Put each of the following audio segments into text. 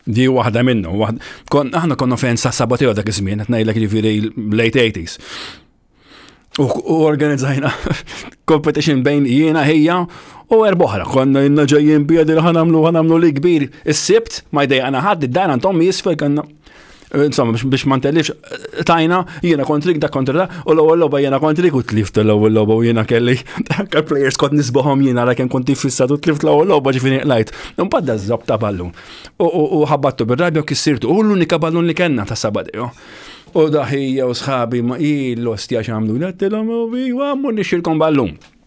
Di waħda minnu. Aħna konna fejn sa' sabateo dak iż-żmien, qed ngħidlek jiġifieri late 80s. U organizzajna competition bejn jiena ħejja u erboħra. Konna jinna ġejjin biedi li ħanamlu ħanamlu li kbir. Is-sibt ma jdejqana ħadd id-dar għandhom jisfel kanna. Insomma, biex ma ntellix, tajna, jiena kontrik da kontra da, u l-ewwel logħba jiena kontrik u tlift l-ewwel logħba u jiena kelli anke players kont nisbaħom jiena għalhekk kont tifissat u tlift l-ewwel logħba ġifieri qlajt. Imbagħad da żob ta' ballun. U ħabbattu bir-rabja u kissirtu. U l-unika ballun li kellna ta' sabadeo. U daħija u sħabi ma il-lostja xamlu, għattilom u bi, għammu nixilkom ballun.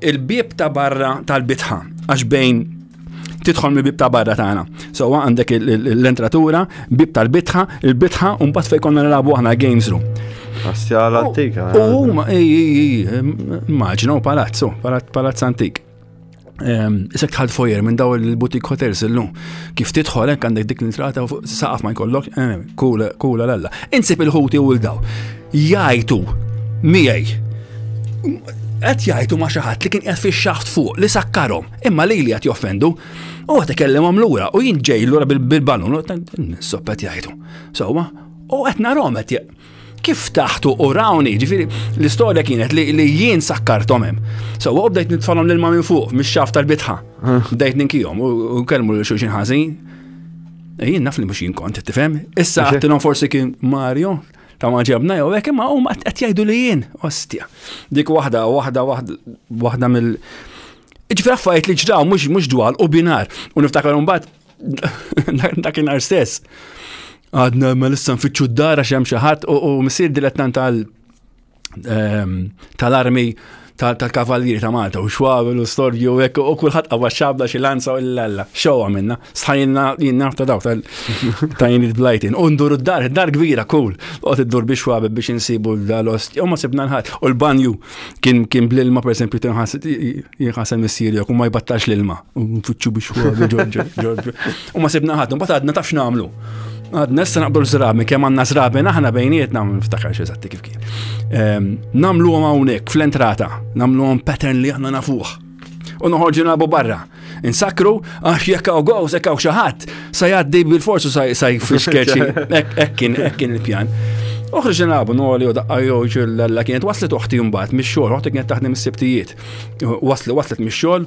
Il-bieb ta' barra tal-bitħa, għax bejn tidħol mill-bib ta' barra tagħna. So għandek l-entratura, bib tal-bitħa, il-bitħa u mbagħad fejn konna nilagħbu aħna games room. Astjala antika. U eh. huma immaġina u palazzo, palazz antik. Ehm, isek tħad fojer minn daw il-butik hotels illum. Kif tidħol hekk għandek dik l-intrata u saqaf ma jkollok, eh, kula l-alla. Insib il-ħuti u l-daw. Jgħajtu miegħi. Qed jgħajtu ma' xi ħadd li kien qed fix-xaħt fuq li sakkarhom, imma li li qed joffendu. U qed ikellimhom lura u jien ġej lura bil-balun, sopp qed jgħajtu. Sewwa, u qed narhom qed kif taħtu u rawni, ġifiri, l-istoria kienet li, li jien sakkartom hemm. So, u bdejt nitfalhom l-ilma minn fuq, mix-xaf tal-bitħa. Bdejt ninkijom u kelmu li xulxin ħażin. Jien naf li mhux jien kont, tifhem? Issa għattilhom forsi kien Mario, ta' ma ġabna jew hekk imma huma qed jgħidu li jien ostja. Dik waħda, waħda, waħda mill. Ġifier affarijiet li ġraw mhux mhux dwal u binar u niftakar imbagħad dakinhar stess. Għadna ma lissa nfittxu d-dara x'hemm xi ħadd u missier dilettant tal ehm, tal-armi tal-kavallieri ta' Malta u xwabel u storju u hekk u kulħadd qawwa xabla xi lanza u l-alla. Xew għamilna, sħajna jien naf ta' daw ta' jien blajtin. U ndur id-dar, id-dar kbira kull. Qod iddur biex xwabel biex insibu l-ost. U ma sibna nħadd. U l-banju kien kien bl-ilma pereżempju tinħas jinħasem missieri u ma jbattax l-ilma. U nfittxu biex xwabel ġorġu. U ma sibna ħadd, mbagħad għadna taf x'nagħmlu. Għadna issa naqbdu l-żrabi, kemm għandna żrabi naħna bejnietna ma niftakarx eżatti kif kien. Ehm, nagħmluhom hawnhekk fl-entrata, nagħmluhom pattern li aħna nafuh. U noħorġu nagħbu barra. Insakru għax jekk hawn gows, jekk hawn xi ħadd, sa jgħaddi bil-forsu sa jfiskeċi. Hekk kien, hekk kien il-pjan. Uħriġ nilagħbu noli u daqqa joġ l-għalla kienet waslet uħti mbagħad mix-xogħol, uħti kienet taħdem is-sibtijiet. Waslet waslet mix-xogħol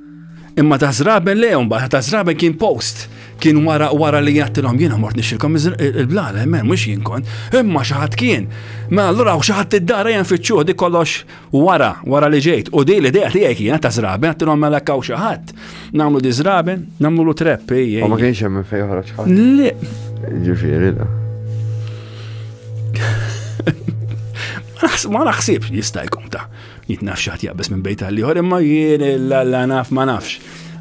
Imma ta' zraben le mbagħad ta' zraben kien post. Kien wara wara li jattilhom jiena mort nixilkom il-blala, men mhux jien kont. Imma xi ħadd kien. Mela allura xi ħadd id-dara jen fiċċuh dik kollox wara, wara li ġejt. U di l-idea tiegħi kienet ta' zraben għattilhom mela kaw xi ħadd. Nagħmlu di zraben, nagħmlu lu trepp. Ma kienx hemm fejn joħroġ ħadd. Le. Ġifieri da. Ma naħsibx jista' jkun ta' Jien naf xaħt jaqbes minn bejta li ħor imma jien l-alla naf ma nafx.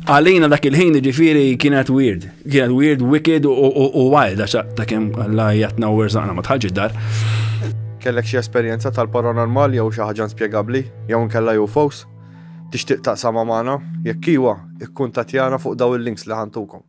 Għalina dak il-ħin ġifiri kienet weird. Kienet weird, wicked u wild, għaxa ta' kem għalla jatna u rżaqna ma tħalġi dar. Kellek xie esperienza tal-paranormal jew xi ħaġa inspjegabbli jew nkella UFOs? Tixtieq taqsama magħna? Jekk iwa, ikkuntatjana fuq daw il-links li ħantukom.